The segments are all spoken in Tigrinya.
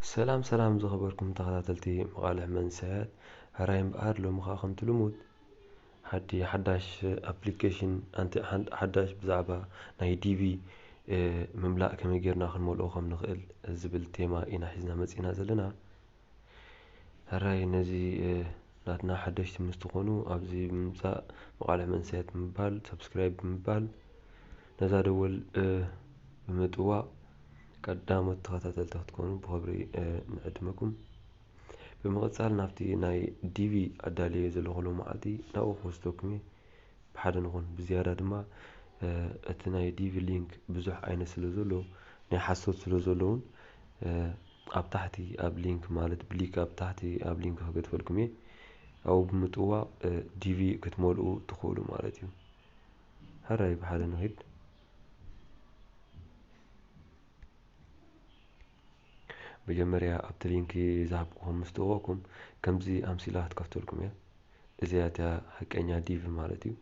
ሰላም ሰላም ዝኸበርኩም ተኸታተልቲ መቓልሕ መንሰያት ሕራይ እምበኣር ሎሚ ከኣ ከምቲ ልሙድ ሓዲ ሓዳሽ ኣፕሊከሽን ኣንቲ ሓዳሽ ብዛዕባ ናይ ዲቪ ምምላእ ከመይ ጌርና ክንመልኦ ከም ንኽእል ዝብል ቴማ ኢና ሒዝና መጺእና ዘለና ሕራይ ነዚ ናትና ሓደሽቲ ምስ ትኾኑ ኣብዚ ብምምጻእ መቓልሕ መንሰያት ብምባል subscribe ብምባል ነዛ ደወል ብምጥዋቕ ቀዳሞት ተኸታተልቲ ክትኮኑ ብኽብሪ ንዕድመኩም። ብምቕጻል ናብቲ ናይ ዲቪ ኣዳልየዮ ዘለኹ ሎማዓልቲ ናብኡ ክወስደኩም እየ ብሓደ ንኹን። ብዝያዳ ድማ እቲ ናይ ዲቪ ሊንክ ብዙሕ ዓይነት ስለዘሎ ናይ ሓሶት ስለዘሎ ውን ኣብ ታሕቲ ኣብ ሊንክ ማለት ብሊክ ኣብ ታሕቲ ኣብ ሊንክ ክገድፈልኩም እየ ኣብኡ ብምጥዋቕ ዲቪ ክትመልኡ ትኽእሉ ማለት እዩ ሕራይ ብሓደ ንኺድ መጀመርያ ኣብቲ ሊንክ ዝሃብኩኹም ምስ ጥወቕኩም ከምዚ ኣምሲላ ክትከፍተልኩም እያ እዚኣ እቲያ ሓቀኛ ዲቪ ማለት እዩ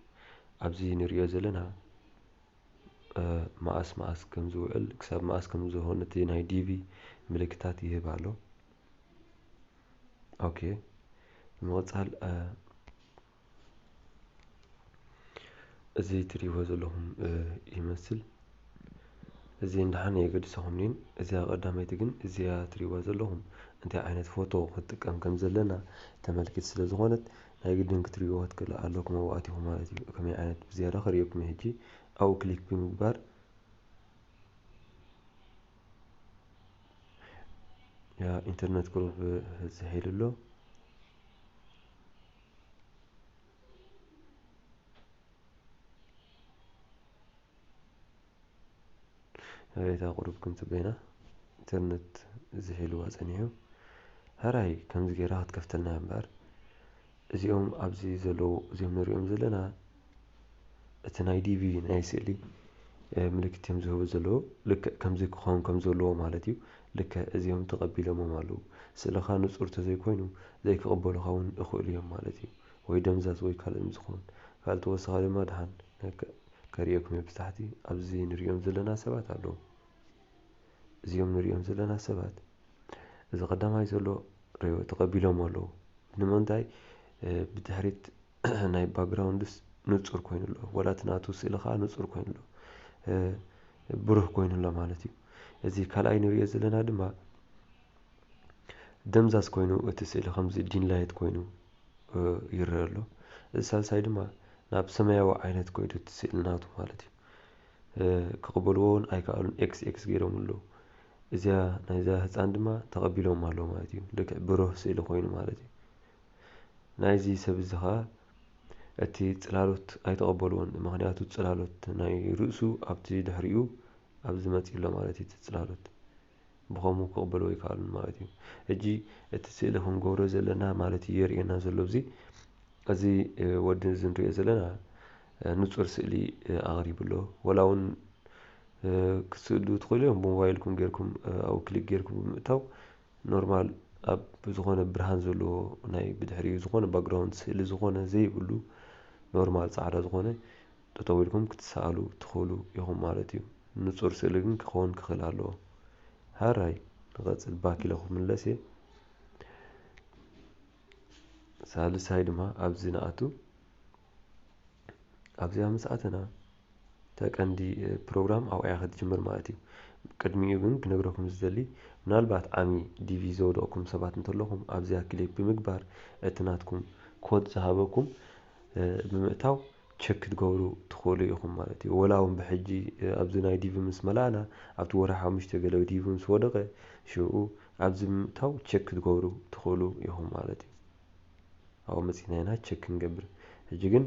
ኣብዚ ንሪኦ ዘለና መኣስ መኣስ ከም ዝውዕል ክሳብ መኣስ ከም ዝሆን እቲ ናይ ዲቪ ምልክታት ይህብ ኣሎ ኦኬ ብምቕጻል እዚ ትሪእዎ ዘለኹም ይመስል እዚ ንሓነ የገድሰኹምኒን እዚኣ ቀዳመይቲ ግን እዚኣ ትሪእዋ ዘለኹም እንታይ ዓይነት ፎቶ ክትጥቀም ከም ዘለና ተመልክት ስለ ዝኾነት ናይ ግድን ክትሪእዎ ክትክእሉ ኣለኩም ኣብኡ ኣቲኩም ማለት እዩ ከመይ ዓይነት ብዝያዳ ከርእየኩም እዩ ሕጂ ኣብኡ ክሊክ ብምግባር ያ ኢንተርነት ቁሩብ ህዝሕ ኢሉ ኣሎ ንሬታ ቁሩብ ክም ጽበይና ኢንተርነት ዝሒልዋ ጸኒሑ ሐራይ ከምዚ ጌራ ክትከፍተልና እያ እምበኣር እዚኦም ኣብዚ ዘለዉ እዚኦም ንሪኦም ዘለና እቲ ናይ ዲቪ ናይ ስእሊ ምልክት እዮም ዝህቡ ዘለዉ ልክዕ ከምዚ ክኸውን ከም ዘለዎ ማለት እዩ ልክዕ እዚኦም ተቐቢሎሞም ኣለዉ ስእልኻ ንጹር ተዘይኮይኑ ዘይክቕበሉኻ እውን እኽእሉ እዮም ማለት እዩ ወይ ደምዛዝ ወይ ካልእ ምስዝኾን ካልእ ተወሳኺ ድማ ድሓን ከርእየኩም እየ ብታሕቲ ኣብዚ ንርእዮም ዘለና ሰባት ኣለዉ እዚኦም ንርእዮም ዘለና ሰባት እዚ ቀዳማይ ዘሎ ሬዎ ተቐቢሎሞ ኣለዉ ንምንታይ ብድሕሪት ናይ ባግራውንድስ ንጹር ኮይኑ ኣሎ ወላ እቲ ናቱ ስእሊ ከኣ ንጹር ኮይኑ ኣሎ ብሩህ ኮይኑ ኣሎ ማለት እዩ እዚ ካልኣይ ንርእዮ ዘለና ድማ ደምዛዝ ኮይኑ እቲ ስእሊ ከምዚ ዲን ላይት ኮይኑ ይረኣ ኣሎ እዚ ሳልሳይ ድማ ናብ ሰማያዊ ዓይነት ኮይዱ እቲ ስእሊ ናቱ ማለት እዩ ክቅበልዎ ውን ኣይከኣሉን ኤክስ ኤክስ ጌሮምሉ ኣለዉ እዚኣ ናይዛ ህጻን ድማ ተቀቢሎማ ኣለዉ ማለት እዩ ልክዕ ብሩህ ስእሊ ኮይኑ ማለት እዩ ናይዚ ሰብ እዚ ከኣ እቲ ጽላሎት ኣይተቀበልዎን ምክንያቱ ጽላሎት ናይ ርእሱ ኣብቲ ድሕሪኡ ኣብዚ መጺኡ ኣሎ ማለት እዩ እቲ ጽላሎት ብኸምኡ ክቕበልዎ ኣይከኣሉን ማለት እዩ። ሕጂ እቲ ስእሊ ክንገብሮ ዘለና ማለት እዩ የርእየና ዘሎ ኣብዚ እዚ ወዲ እዚ ንርእዮ ዘለና ንጹር ስእሊ ኣቕሪቡ ኣሎ። ወላ እውን ክትስእሉ ትኽእሉ እዮም ብሞባይልኩም ጌርኩም ኣብኡ ክሊክ ጌርኩም ብምእታው ኖርማል ኣብ ዝኾነ ብርሃን ዘለዎ ናይ ብድሕሪኡ ዝኾነ ባክግራውንድ ስእሊ ዝኾነ ዘይብሉ ኖርማል ጻዕዳ ዝኾነ ጠጠው ኢልኩም ክትሰኣሉ ትኽእሉ ኢኹም ማለት እዩ ንፁር ስእሊ ግን ክኸውን ክኽእል ኣለዎ ሐራይ ንቀፅል ባክ ኢለ ክምለስ እየ ሳልሳይ ድማ ኣብዚ ንኣቱ ኣብዚኣ ምስ ኣተና እታ ቀንዲ ፕሮግራም ኣብኣ እያ ክትጅምር ማለት እዩ ቅድሚኡ ግን ክነግረኩም ዝደሊ ምናልባት ዓሚ ዲቪ ዘውደቕኩም ሰባት እንተለኹም ኣብዚኣ ክሊክ ብምግባር እቲ ናትኩም ኮድ ዝሃበኩም ብምእታው ቸክ ክትገብሩ ትኽእሉ ኢኹም ማለት እዩ። ወላ ውን ብሕጂ ኣብዚ ናይ ዲቪ ምስ መላእና ኣብቲ ወርሒ ሓሙሽተ ገለ ዲቪ ምስ ወደቐ ሽኡ ኣብዚ ብምእታው ቸክ ክትገብሩ ትኽእሉ ኢኹም ማለት እዩ። ኣብኡ መጺእና ኢና ቸክ ክንገብር። ሕጂ ግን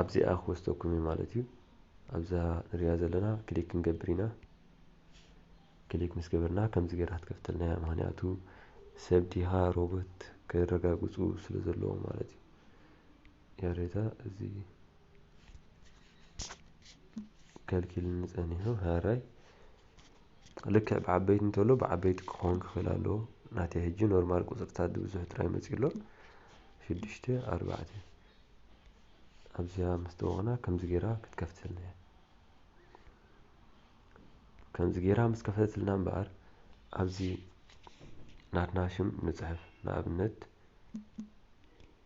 ኣብዚኣ ክወስደኩም እዩ ማለት እዩ። ኣብዛ ንሪኣ ዘለና ክሊክ ክንገብር ኢና። ክሊክ ምስ ገበርና ከምዚ ገይራ ክትከፍተልና እያ። ምክንያቱ ሰብ ዲኻ ሮቦት ከረጋግጹ ስለ ዘለዎም ማለት እዩ። ያሬታ እዚ ከልኪልኒ ጸኒሑ ሃራይ ልክዕ ብዓበይቲ እንተሎ ብዓበይቲ ክኸውን ክኽእል ኣለዎ ናተይ ሕጂ ኖርማል ቁፅርታት ብዙሕ ጥራይ መፅኡ ኣሎ ሽዱሽተ ኣርባዕተ ኣብዚኣ ምስ ተወቕና ከምዚ ጌራ ክትከፍተልና እያ ከምዚ ጌራ ምስ ከፈተትልና እምበኣር ኣብዚ ናትና ሽም ንፅሕፍ ንኣብነት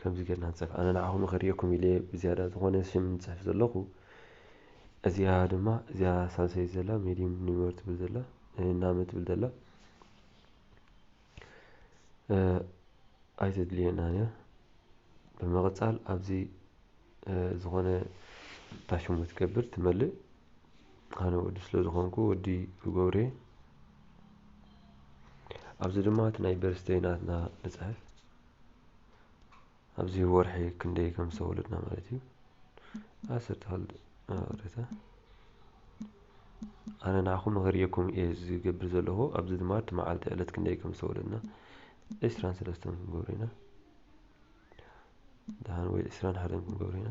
ከምዚ ጌርና ንጽሕፍ ኣነ ንዓኹም ንኸርእየኩም ኢለ ብዝያዳ ዝኾነ ሽም ዝጽሕፍ ዘለኹ እዚኣ ድማ እዚኣ ሳልሰይቲ ዘላ ሜዲም ኒመር ትብል ዘላ ናመ ትብል ዘላ ኣይተድልየናን እያ ብምቕጻል ኣብዚ ዝኾነ ታሽሙ ትገብር ትመልእ ኣነ ወዲ ስለ ዝኾንኩ ወዲ ገብሬ ኣብዚ ድማ እቲ ናይ በርስተይ ናትና ንፅሕፍ ኣብዚ ወርሒ ክንደይ ከም ዝተወለድና ማለት እዩ ኣስር ተኸል ረተ ኣነ ንዓኹም መኸርየኩም እየ ዝገብር ዘለኹ ኣብዚ ድማ እቲ መዓልቲ ዕለት ክንደይ ከም ዝተወለድና ዕስራን ሰለስተን ክንገብር ኢና ደሓን ወይ ዕስራን ሓደን ክንገብሮ ኢና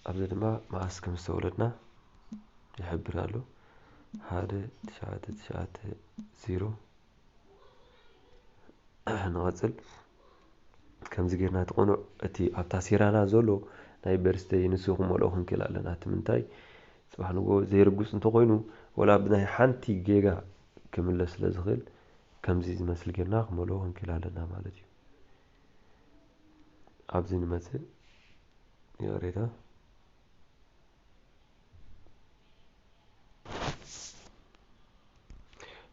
ኣብዚ ድማ መዓስ ከም ዝተወለድና ይሕብር ኣሎ ሓደ ትሽዓተ ትሽዓተ ዜሮ ንቐፅል ከምዚ ጌርና እቲ ቅኑዕ እቲ ኣብታ ሴራና ዘሎ ናይ በርስተይ ንሱ ክመልኦ ክንክእል ኣለና እቲ ምንታይ ፅባሕ ንጎ ዘይርጉፅ እንተኮይኑ ወላ ብናይ ሓንቲ ጌጋ ክምለስ ስለ ዝኽእል ከምዚ ዝመስል ጌርና ክመልኦ ክንክእል ኣለና ማለት እዩ ኣብዚ ንመጽእ ይቕሬታ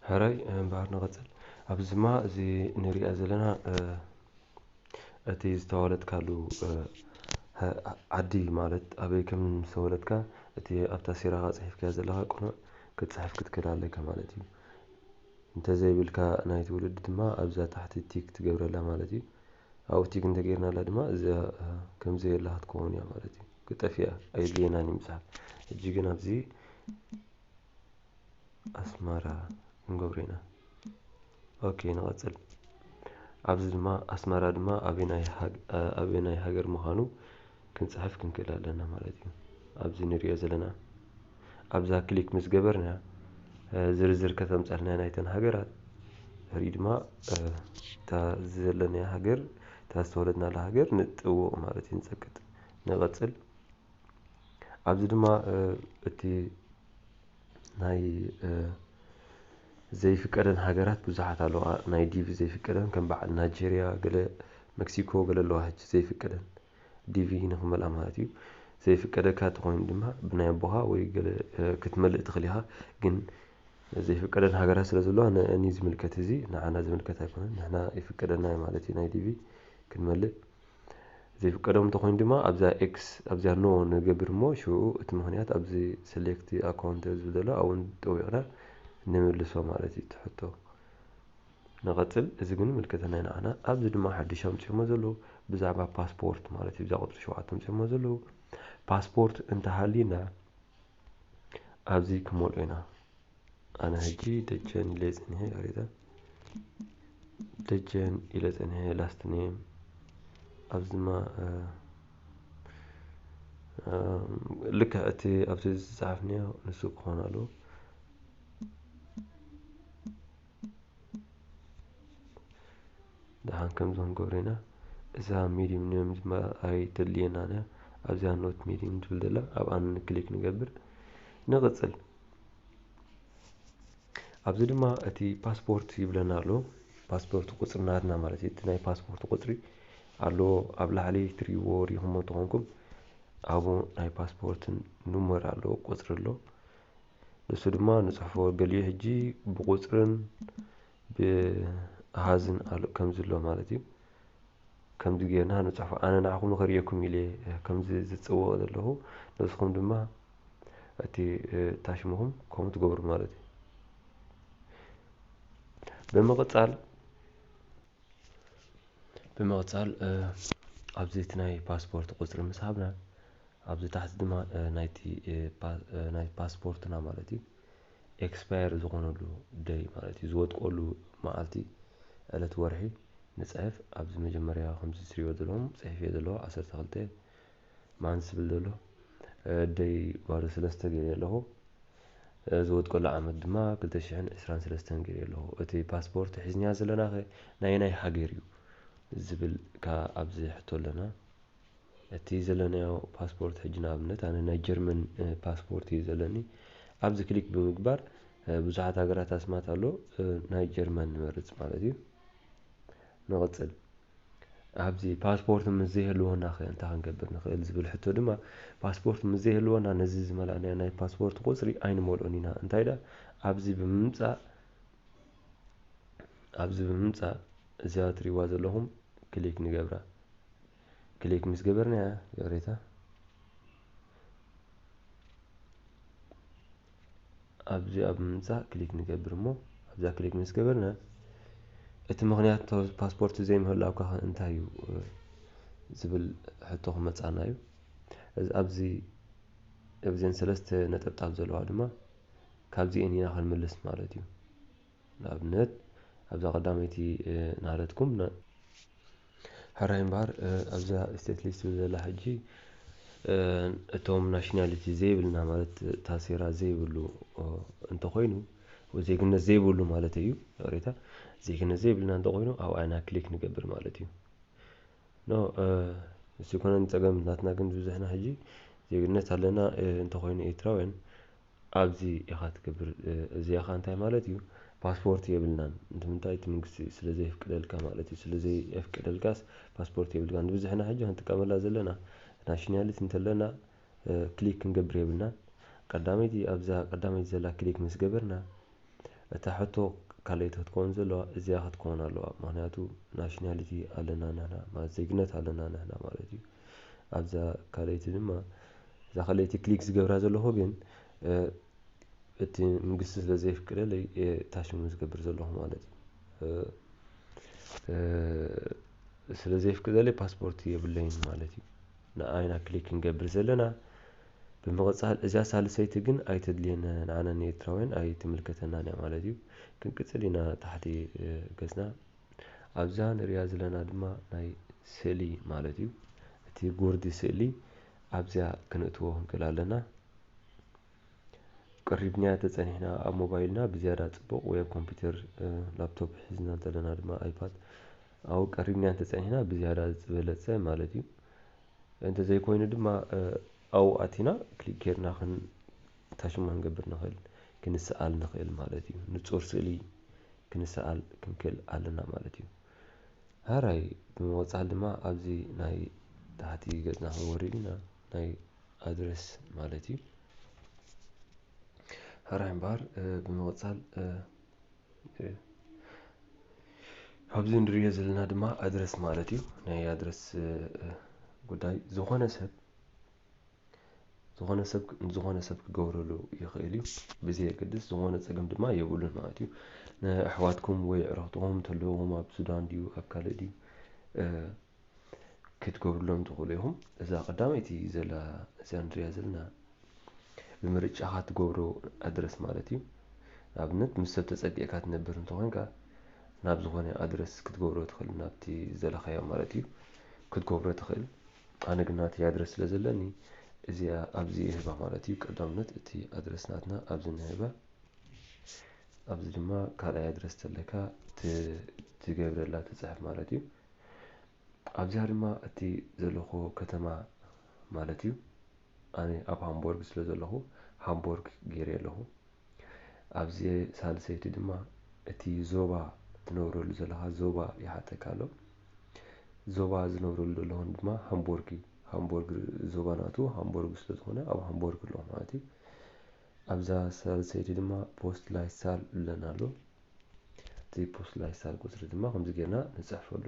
ሕራይ እምበኣር ንቐጽል ኣብዚ ድማ እዚ ንሪኣ ዘለና እቲ ዝተወለድካሉ ዓዲ ማለት ኣበይ ከም ዝተወለድካ እቲ ኣብታ ሲራኻ ጽሒፍካዮ ዘለኻ ቅኑዕ ክትጽሕፍ ክትክእል ኣለካ ማለት እዩ እንተዘይብልካ ናይ ትውልዲ ድማ ኣብዛ ታሕቲ ቲክ ትገብረላ ማለት እዩ። ኣብኡ ቲክ እንተገይርናላ ድማ እዚኣ ከም ዘየላ ክትከውን እያ ማለት እዩ። ክጠፍኣ ኣየድልየናን እዩ ምጽሓፍ። ሕጂ ግን ኣብዚ ኣስመራ ክንገብሮ ኢና። ኦኬ ንቐጽል። ኣብዚ ድማ ኣስመራ ድማ ኣበናይ ሃገር ምዃኑ ክንጽሕፍ ክንክእል ኣለና ማለት እዩ። ኣብዚ ንርእዮ ዘለና ኣብዛ ክሊክ ምስ ገበርና ዝርዝር ከተምጻልና እያ ናይተን ሃገራት ድሕሪኡ ድማ እታ ዘለናያ ሃገር እታ ዝተወለድናላ ሃገር ንጥውቕ ማለት እዩ ንጸቅጥ ንቐጽል ኣብዚ ድማ እቲ ናይ ዘይፍቀደን ሃገራት ብዙሓት ኣለዋ ናይ ዲቪ ዘይፍቀደን ከም በዓል ናጀርያ ገለ መክሲኮ ገለ ኣለዋ ሕጂ ዘይፍቀደን ዲቪ ንክመልኣ ማለት እዩ ዘይፍቀደካ ተኾይኑ ድማ ብናይ ኣቦኻ ወይ ገለ ክትመልእ ትኽእል ኢኻ ግን ዘይፍቀደን ሃገራት ስለ ዘለዋ ንእኒ ዝምልከት እዚ ንዓና ዝምልከት ኣይኮነን ንሕና ይፍቀደና ማለት እዩ ናይ ዲቪ ክንመልእ ዘይፍቀዶም እንተኾይኑ ድማ ኣብዛ X ኣብዚኣ No ንገብር እሞ ሽዑ እቲ ምኽንያት ኣብዚ Select Account ኣብ ዝብል ዘሎ ኣብኡ ጠዊቕና ንምልሶ ማለት እዩ እቲ ሕቶ። ንቐጽል እዚ ግን ይምልከተና እዩ ንዓና። ኣብዚ ድማ ሓድሽ ኣምጺኦሞ ዘለዉ ብዛዕባ ፓስፖርት ማለት እዩ እዛ ቁጽሪ ሸውዓተ ኣምጺኦሞ ዘለዉ ፓስፖርት እንተሃልዩና ኣብዚ ክንመልኦ ኢና። ኣነ ሕጂ ደጀን ኢለይ ጸኒሐ ይቅሬታ ደጀን ኢለ ጸኒሐ ላስት ኔም ኣብዚ ድማ ልክዕ እቲ ኣብቲ ዝፀሓፍንዮ ንሱ ክኾን ኣለዎ ድሓን ከምዚ ክንገብሮ ኢና እዛ ሚዲም ኔም ድማ ኣይተድልየናን እያ ኣብዚኣ ኖት ሚዲም ትብል ዘላ ኣብኣ ክሊክ ንገብር ንቕፅል ኣብዚ ድማ እቲ ፓስፖርት ይብለና ኣሎ ፓስፖርት ቁፅሪ ናትና ማለት እዩ እቲ ናይ ፓስፖርት ቁፅሪ ኣሎ ኣብ ላዕሊ ትሪእዎ ሪኹሞ ተኾንኩም ኣብኡ ናይ ፓስፖርትን ኑመር ኣሎ ቁፅሪ ኣሎ ንሱ ድማ ንፅሕፎ ገሊኡ ሕጂ ብቁፅርን ብኣሃዝን ኣሉ ከምዚ ኣሎ ማለት እዩ ከምዚ ጌርና ንጽሕፎ ኣነ ንዓኹም ንኸርእየኩም ኢለ ከምዚ ዝጽወቕ ዘለኹ ንስኹም ድማ እቲ ታሽምኹም ከምኡ ትገብሩ ማለት እዩ ብምቕጻል ብምቕጻል ኣብዚ እቲ ናይ ፓስፖርት ቁፅሪ ምስ ሃብና ኣብዚ ታሕቲ ድማ ናይቲ ናይ ፓስፖርትና ማለት እዩ ኤክስፓየር ዝኾነሉ ደይ ማለት እዩ ዝወድቆሉ መዓልቲ ዕለት ወርሒ ንጽሕፍ ኣብዚ መጀመርያ ከምዚ ትሪእዎ ዘለኹም ጽሒፈዮ ዘለኹ ዓሰርተ ክልተ ማንስ ዝብል ዘሎ ደይ ባዶ ሰለስተ ገይረዮ ኣለኹ ዝወድቀሉ ዓመት ድማ ክልተ ሽሕን ዕስራን ሰለስተን ገይረዮ ኣለኹ እቲ ፓስፖርት ሒዝንያ ዘለናኸ ናየናይ ሃገር እዩ ዝብል ከኣ ኣብዚ ሕቶ ኣለና እቲ ዘለናዮ ፓስፖርት ሕጂ ንኣብነት ኣነ ናይ ጀርመን ፓስፖርት እዩ ዘለኒ ኣብዚ ክሊክ ብምግባር ብዙሓት ሃገራት ኣስማት ኣሎ ናይ ጀርመን ንመርጽ ማለት እዩ ንቕጽል ኣብዚ ፓስፖርት ምስ ዘይህልወና ከ እንታይ ክንገብር ንኽእል ዝብል ሕቶ ድማ ፓስፖርት ምስ ዘይህልወና ነዚ ዝመላእናዮ ናይ ፓስፖርት ቁጽሪ ኣይንመልኦን ኢና እንታይ ዳ ኣብዚ ብምምጻእ ኣብዚ ብምምጻእ እዚኣ ትሪእዋ ዘለኹም ክሊክ ንገብራ ክሊክ ምስ ገበርናያ ይቕሬታ ኣብዚ ኣብ ምምጻእ ክሊክ ንገብር እሞ ኣብዛ ክሊክ ምስ ገበርና እቲ ምክንያት ፓስፖርት ዘይምህላውካ ከ እንታይ እዩ ዝብል ሕቶ ክመጻና እዩ ኣብዚ እብዘን ሰለስተ ነጠብጣብ ዘለዋ ድማ ካብዚኤን ኢና ክንምልስ ማለት እዩ ንኣብነት ኣብዛ ቀዳመይቲ ናረትኩም ን ሕራይ እምበኣር ኣብዛ ስቴት ሊስት ትብል ዘላ ሕጂ እቶም ናሽናሊቲ ዘይብልና ማለት ታሴራ ዘይብሉ እንተኾይኑ ወይ ዜግነት ዘይብሉ ማለት እዩ ይቕሬታ ዜግነት ዘይብልና እንተኾይኑ ኣብኣ ኢና ክሊክ ንገብር ማለት እዩ ኖ እሱ ኮነ ጸገም ናትና ግን ዝብዝሕና ሕጂ ዜግነት ኣለና እንተኾይኑ ኤርትራውያን ኣዚ ኢካ ትገብር እዚካ እንታይ ማለት እዩ ፓስፖርት የብልናን እንትምንታይ እቲ ምንግስቲ ስለ ዘይፍቅደልካ ማለት እዩ ስለ ዘየፍቅደልካስ ፓስፖርት የብልካን ንብዝሕና ሕጂ ክንጥቀመላ ዘለና ናሽንያልት እንተለና ክሊክ ክንገብር የብልናን ቀዳመይቲ ኣብዛ ቀዳመይቲ ዘላ ክሊክ ምስ ገበርና እታ ሕቶ ካልኣይቲ ክትኮን ዘለዋ እዚኣ ክትኮን ኣለዋ ምክንያቱ ናሽናሊቲ ኣለና ንሕና ማለት ዜግነት ኣለና ንሕና ማለት እዩ ኣብዛ ካልኣይቲ ድማ እዛ ካልኣይቲ ክሊክ ዝገብራ ዘለኹ ግን እቲ መንግስቲ ስለ ዘይፍቅደለይ እታ ሽሙ ዝገብር ዘለኹ ማለት እዩ ስለ ዘይፍቅደለይ ፓስፖርት የብለይን ማለት እዩ ንኣይና ክሊክ ክንገብር ዘለና ብምቅጻል እዚኣ ሳልሰይቲ ግን ኣይተድልየና እያ ንዓና ንኤርትራውያን ኣይትምልከተናን እያ ማለት እዩ ክንቅጽል ኢና ታሕቲ ገጽና ኣብዛ ንርእያ ዘለና ድማ ናይ ስእሊ ማለት እዩ እቲ ጉርዲ ስእሊ ኣብዚኣ ክንእትዎ ክንክእል ኣለና ቀሪብናያ ተጸኒሕና ኣብ ሞባይልና ብዝያዳ ጽቡቕ ወይ ኣብ ኮምፒውተር ላፕቶፕ ሒዝና እንተለና ድማ ኣይፓድ ኣብኡ ቀሪብናያ እንተጸኒሕና ብዝያዳ ዝበለጸ ማለት እዩ እንተዘይኮይኑ ድማ ኣብኡ ኣቲና ክሊክ ጌርና ታሽሙ ክንገብር ንኽእል ክንስኣል ንኽእል ማለት እዩ ንጹር ስእሊ ክንስኣል ክንክእል ኣለና ማለት እዩ ሃራይ ብምቕጻል ድማ ኣብዚ ናይ ታሕቲ ገጽና ክንወርድ ኢና ናይ ኣድረስ ማለት እዩ ሃራይ እምበኣር ብምቕጻል ኣብዚ ንሪኦ ዘለና ድማ ኣድረስ ማለት እዩ ናይ ኣድረስ ጉዳይ ዝኾነ ሰብ ዝኾነ ሰብ ዝኾነ ሰብ ክገብረሉ ይኽእል እዩ ብዘየገድስ ዝኾነ ፀገም ድማ የብሉን ማለት እዩ ንኣሕዋትኩም ወይ ዕረኽትኹም ተለዎም ኣብ ሱዳን ድዩ ኣብ ካልእ ድዩ ክትገብርሎም ትኽእሉ ኢኹም። እዛ ቀዳመይቲ ዘላ እዚኣ ንርእያ ዘለና ብምርጫኻ ትገብሮ ኣድረስ ማለት እዩ። ንኣብነት ምስ ሰብ ተጸጊዕካ ትነብር እንተኾይንካ ናብ ዝኾነ ኣድረስ ክትገብሮ ትኽእል ናብቲ ዝደለኻዮ ማለት እዩ ክትገብሮ ትኽእል። ኣነ ግን ናተይ ኣድረስ ስለ ዘለኒ እዚኣ ኣብዚ ይህባ ማለት እዩ። ቀዳምነት እቲ ኣድረስ ናትና ኣብዚ ንህባ። ኣብዚ ድማ ካልኣይ ኣድረስ ተለካ ትገብረላ ትጽሕፍ ማለት እዩ። ኣብዚኣ ድማ እቲ ዘለኹዎ ከተማ ማለት እዩ ኣነ ኣብ ሃምቦርግ ስለ ዘለኹ ሃምቦርግ ገይረዮ ኣለኹ። ኣብዚ ሳልሰይቲ ድማ እቲ ዞባ ትነብረሉ ዘለኻ ዞባ ይሓተካ ኣሎ። ዞባ ዝነብረሉ ዘለኹን ድማ ሃምቦርግ እዩ። ሃምቦርግ ዞባ ናቱ ሃምቦርግ ስለ ዝኾነ ኣብ ሃምቦርግ ኣለኹ ማለት እዩ። ኣብዛ ሳልሰይቲ ድማ ፖስት ላይሳል እብለና ኣሎ። እቲ ፖስላይሳል ቁጽሪ ድማ ከምዚ ጌርና ንጽሕፈሉ።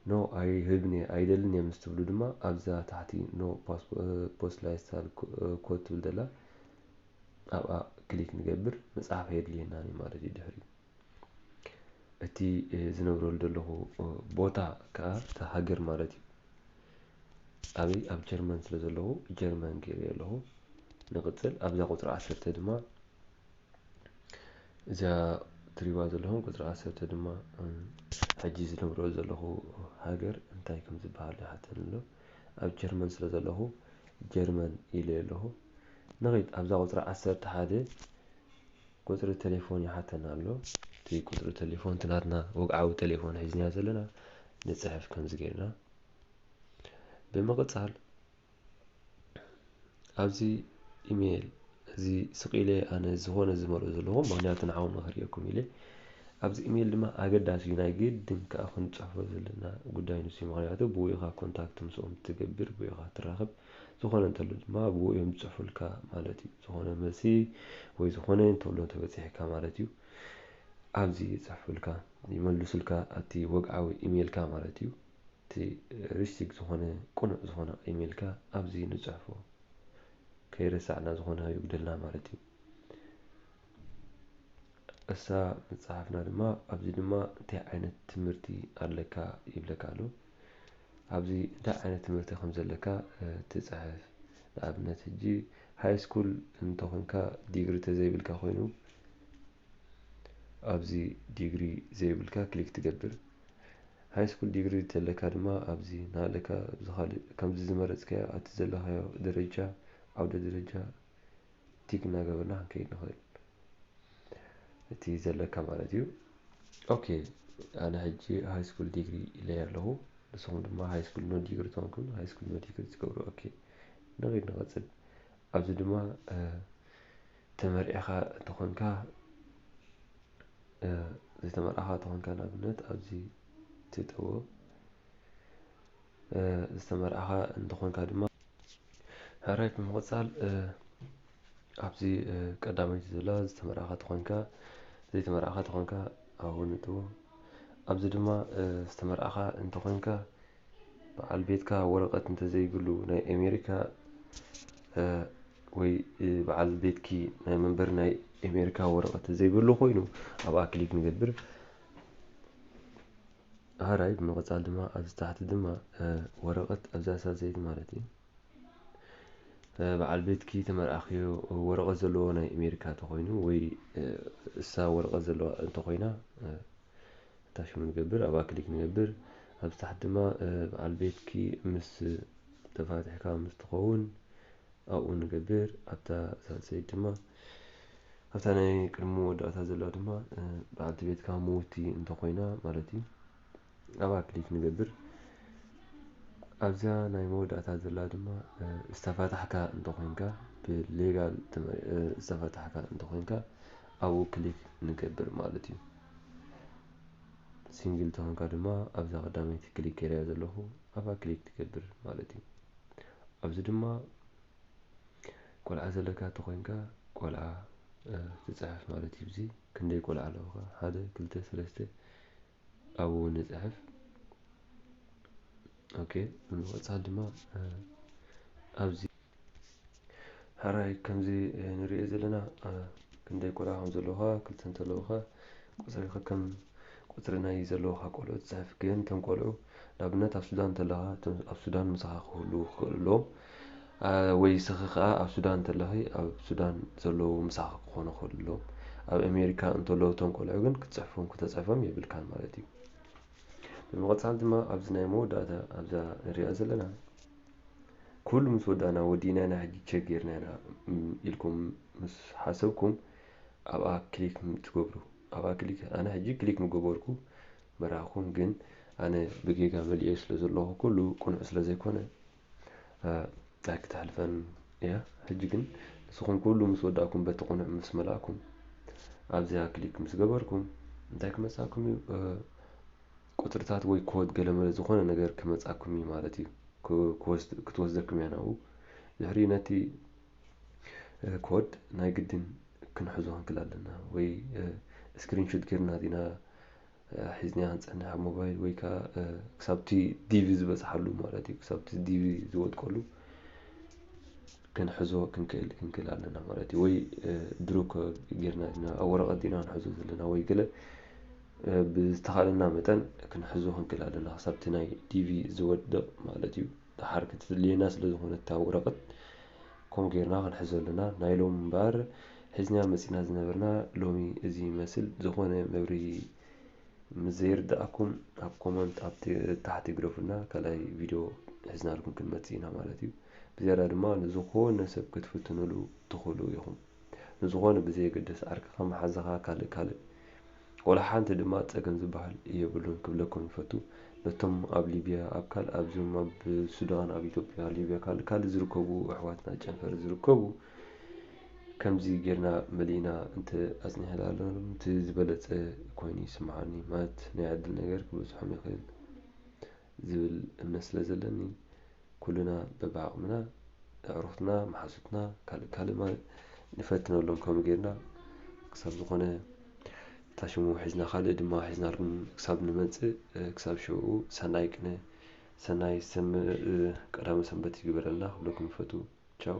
No ኣይህብን'የ፣ ኣይደልን'የ ምስ ትብሉ ድማ ኣብዛ ታሕቲ No ፖስላይሳል ኮድ ትብል ዘላ ኣብኣ ክሊክ ንገብር፣ ምጽሓፍ ኣየድልየናን'ዩ ማለት እዩ ድሕሪኡ። እቲ ዝነብረሉ ዘለኹ ቦታ ከኣ እታ ሃገር ማለት እዩ። ኣበይ ኣብ ጀርመን ስለ ዘለኹ ጀርመን ገይረዮ ኣለኹ። ንቕጽል ኣብዛ ቁጽሪ ዓሰርተ ድማ እዛ ትሪእዋ ዘለኹም ቁጽሪ ዓሰርተ ድማ ሕጂ ዝነብሮ ዘለኹ ሃገር እንታይ ከም ዝበሃል ይሓተኒ ኣሎ ኣብ ጀርመን ስለ ዘለኹ ጀርመን ኢለ ኣለኹ ንኺድ ኣብዛ ቁጽሪ ዓሰርተ ሓደ ቁጽሪ ቴሌፎን ይሓተና ኣሎ እቲ ቁጽሪ ቴሌፎን እቲ ናትና ወግዓዊ ቴሌፎን ሒዝና ዘለና ንጽሕፍ ከምዚ ገይርና ብምቕጻል ኣብዚ ኢሜል እዚ ስቅ ኢለ ኣነ ዝኾነ ዝመልኦ ዘለኹ ምክንያቱ ንዓኹም ክርእየኩም ኢለ ኣብዚ ኢሜል ድማ ኣገዳሲ እዩ ናይ ግድን ከዓ ክንፅሕፎ ዘለና ጉዳይ ንሱ ምክንያቱ ብኡ ኢኻ ኮንታክት ምስኦም ትገብር ብኡ ኢኻ ትራኸብ ዝኾነ እንተሎ ድማ ብኡ እዮም ዝፅሑፉልካ ማለት እዩ ዝኾነ መልሲ ወይ ዝኾነ እንተሎ ተበፂሕካ ማለት እዩ ኣብዚ ይፅሕፉልካ ይመልሱልካ ኣቲ ወግዓዊ ኢሜልካ ማለት እዩ እቲ ሪስቲግ ዝኾነ ቅኑዕ ዝኾነ ኢሜልካ ኣብዚ ንጽሕፎ ከይረሳዕና ዝኾነ ኣይጉደልና ማለት እዩ እሳ ምጽሓፍና ድማ ኣብዚ ድማ እንታይ ዓይነት ትምህርቲ ኣለካ ይብለካ ኣሎ ኣብዚ እንታይ ዓይነት ትምህርቲ ከም ዘለካ ትጽሕፍ ንኣብነት ሕጂ ሃይ ስኩል እንተኾንካ ዲግሪ ተዘይብልካ ኮይኑ ኣብዚ ዲግሪ ዘይብልካ ክሊክ ትገብር። ሃይ ስኩል ዲግሪ እተለካ ድማ ኣብዚ ናሃለካ ኣብዚ ካልእ ከምዚ ዝመረጽካዮ ኣቲ ዘለኻዮ ደረጃ ዓውደ ደረጃ ቲክ እናገበርና ክንከይድ ንኽእል። እቲ ዘለካ ማለት እዩ። ኦኬ ኣነ ሕጂ ሃይ ስኩል ዲግሪ ኢለይ ኣለኹ። ንስኹም ድማ ሃይ ስኩል ኖ ዲግሪ ተኾንኩም ሃይ ስኩል ኖ ዲግሪ ትገብሩ። ኦኬ ንኺድ ንቐጽል። ኣብዚ ድማ ተመርዒኻ እንተኾንካ ዘይተመርዓኻ እንተኾንካ ንኣብነት ኣብዚ ትእተዎ ዝተመርዓኻ እንተኾንካ ድማ ሕራይ ብምቕጻል ኣብዚ ቀዳመይቲ ዘላ ዝተመርዓኻ ተኾንካ ዘይተመርዓኻ ተኾንካ ኣብኡ ንእትዎ ኣብዚ ድማ ዝተመርዓኻ እንተኾንካ በዓል ቤትካ ወረቀት እንተዘይብሉ ናይ ኤሜሪካ ወይ በዓል ቤትኪ ናይ መንበሪ ናይ ኤሜሪካ ወረቀት ተዘይብሉ ኮይኑ ኣብኣ ክሊክ ንገብር ሃራይ ብምቕጻል ድማ ኣብዚ ታሕቲ ድማ ወረቐት ኣብዛ ሳዘይት ማለት እዩ በዓል ቤትኪ ተመርኣኽዮ ወረቐት ዘለዎ ናይ ኣሜሪካ እንተኾይኑ ወይ እሳ ወረቐት ዘለዎ እንተኾይና ኣታሽመ ንገብር ኣብኣ ክሊክ ንገብር ኣብዚ ታሕቲ ድማ በዓል ቤትኪ ምስ ተፋቲሕካ ምስ ትኸውን ኣብኡ ንገብር ኣብታ ሳልሰይቲ ድማ ኣብታ ናይ ቅድሚ መወዳእታ ዘላ ድማ በዓልቲ ቤትካ ምውቲ እንተኾይና ማለት እዩ ኣብኣ ክሊክ ንገብር ኣብዛ ናይ መወዳእታ ዘላ ድማ ዝተፋታሕካ እንተኾይንካ ብሌጋል ዝተፋታሕካ እንተኾይንካ ኣብኡ ክሊክ ንገብር ማለት እዩ። ሲንግል ተኾንካ ድማ ኣብዛ ቀዳመይቲ ክሊክ ገይረያ ዘለኹ ኣብኣ ክሊክ ትገብር ማለት እዩ። ኣብዚ ድማ ቆልዓ ዘለካ ተኾይንካ ቆልዓ ትፅሕፍ ማለት እዩ። እዚ ክንደይ ቆልዓ ኣለዉካ ሓደ ክልተ ሰለስተ ኣብኡ ንጽሕፍ ኦኬ ብምቕጻል ድማ ኣብዚ ሕራይ ከምዚ ንሪኦ ዘለና ክንደይ ቆልዓ ከም ዘለውካ ክልተ እንተለውካ ቁፅሪ ከከም ቁፅሪ ናይ ዘለውካ ቆልዑ ትፅሕፍ ግን እቶም ቆልዑ ንኣብነት ኣብ ሱዳን እንተለኻ ኣብ ሱዳን ምሳኻ ክህልዉ ክኽእሉ ኣለዎም ወይ ስኺ ከኣ ኣብ ሱዳን እንተለኺ ኣብ ሱዳን ዘለዉ ምሳኺ ክኾኑ ከሎ ኣብ ኣሜሪካ እንተለዉ እቶም ቆልዑ ግን ክትጽሕፎም ክተጽሕፎም የብልካን ማለት እዩ ብምቕጻል ድማ ኣብዚ ናይ መወዳእታ ኣብዛ ንሪኣ ዘለና ኩሉ ምስ ወዳእና ወዲእና ኢና ሕጂ ቸክ ጌርና ኢና ኢልኩም ምስ ሓሰብኩም ኣብኣ ክሊክ ትገብሩ ኣብኣ ክሊክ ኣነ ሕጂ ክሊክ ምገበርኩ መራኹም ግን ኣነ ብጌጋ መልኤ ስለ ዘለኹ ኩሉ ቅኑዕ ስለ ዘይኮነ ኣይ ክትሓልፈን እያ ሕጂ ግን ንስኹም ኩሉ ምስ ወዳእኩም በቲ ቅኑዕ ምስ መላእኩም ኣብዚኣ ክሊክ ምስ ገበርኩም እንታይ ክመጻኩም እዩ ቁጽርታት ወይ ኮድ ገለመለ ዝኾነ ነገር ክመጻኩም እዩ ማለት እዩ ክትወስደኩም እያ ናብኡ ድሕሪ ነቲ ኮድ ናይ ግድን ክንሕዞ ክንክል ኣለና ወይ ስክሪንሹት ጌርና ዲና ሒዝናያ ንጸንሕ ሞባይል ወይ ከኣ ክሳብቲ ዲቪ ዝበጽሓሉ ማለት እዩ ክሳብቲ ዲቪ ዝወድቀሉ ክንሕዞ ክንክእል ክንክእል ኣለና ማለት እዩ ወይ ድሩክ ጌርና ዲና ኣብ ወረቐት ዲና ክንሕዞ ዘለና ወይ ገለ ብዝተኻለና መጠን ክንሕዞ ክንክእል ኣለና ክሳብቲ ናይ ዲቪ ዝወድቕ ማለት እዩ ደሓር ከተድልየና ስለ ዝኾነት እታ ወረቐት ከምኡ ጌርና ክንሕዞ ኣለና። ናይ ሎሚ እምበኣር ሒዝናያ መጺእና ዝነበርና ሎሚ እዚ ይመስል። ብዝኾነ መብርሂ ምስ ዘይርደኣኩም ኣብ ኮመንት ኣብ ታሕቲ ግደፉልና ካልኣይ ቪድዮ ሒዝናልኩም ክንመጽእ ኢና ማለት እዩ። ብዝያዳ ድማ ንዝኾነ ሰብ ክትፍትኑሉ ትኽእሉ ኢኹም። ንዝኾነ ብዘየገድስ ዓርክኻ መሓዛኻ ካልእ ካልእ ወላ ሓንቲ ድማ ጸገም ዝብሃል የብሉን ክብለኩም ይፈቱ ነቶም ኣብ ሊብያ ኣብ ካልእ ኣብዞም ኣብ ሱዳን ኣብ ኢትዮጵያ ሊብያ ካልእ ካልእ ዝርከቡ ኣሕዋትና ጨንፈር ዝርከቡ ከምዚ ጌርና መሊእና እንተ ኣጽኒሕናሎም እቲ ዝበለጸ ኮይኑ ይስምዓኒ ማለት ናይ ዕድል ነገር ክበጽሖም ይኽእል ዝብል እምነት ስለ ዘለኒ ኩልና በብዓቕምና ኣዕሩኽትና፣ መሓዙትና፣ ካልእ ካልእ ማለት ንፈትነሎም ከምኡ ጌርና ክሳብ ዝኾነ እታ ሽሙ ሒዝና ካልእ ድማ ሒዝናልኩም ክሳብ ንመጽእ ክሳብ ሽዑኡ ሰናይ ቅነ ሰናይ ሰም ቀዳመ ሰንበት ይግበረልና ክብለኩም ይፈቱ ቻው።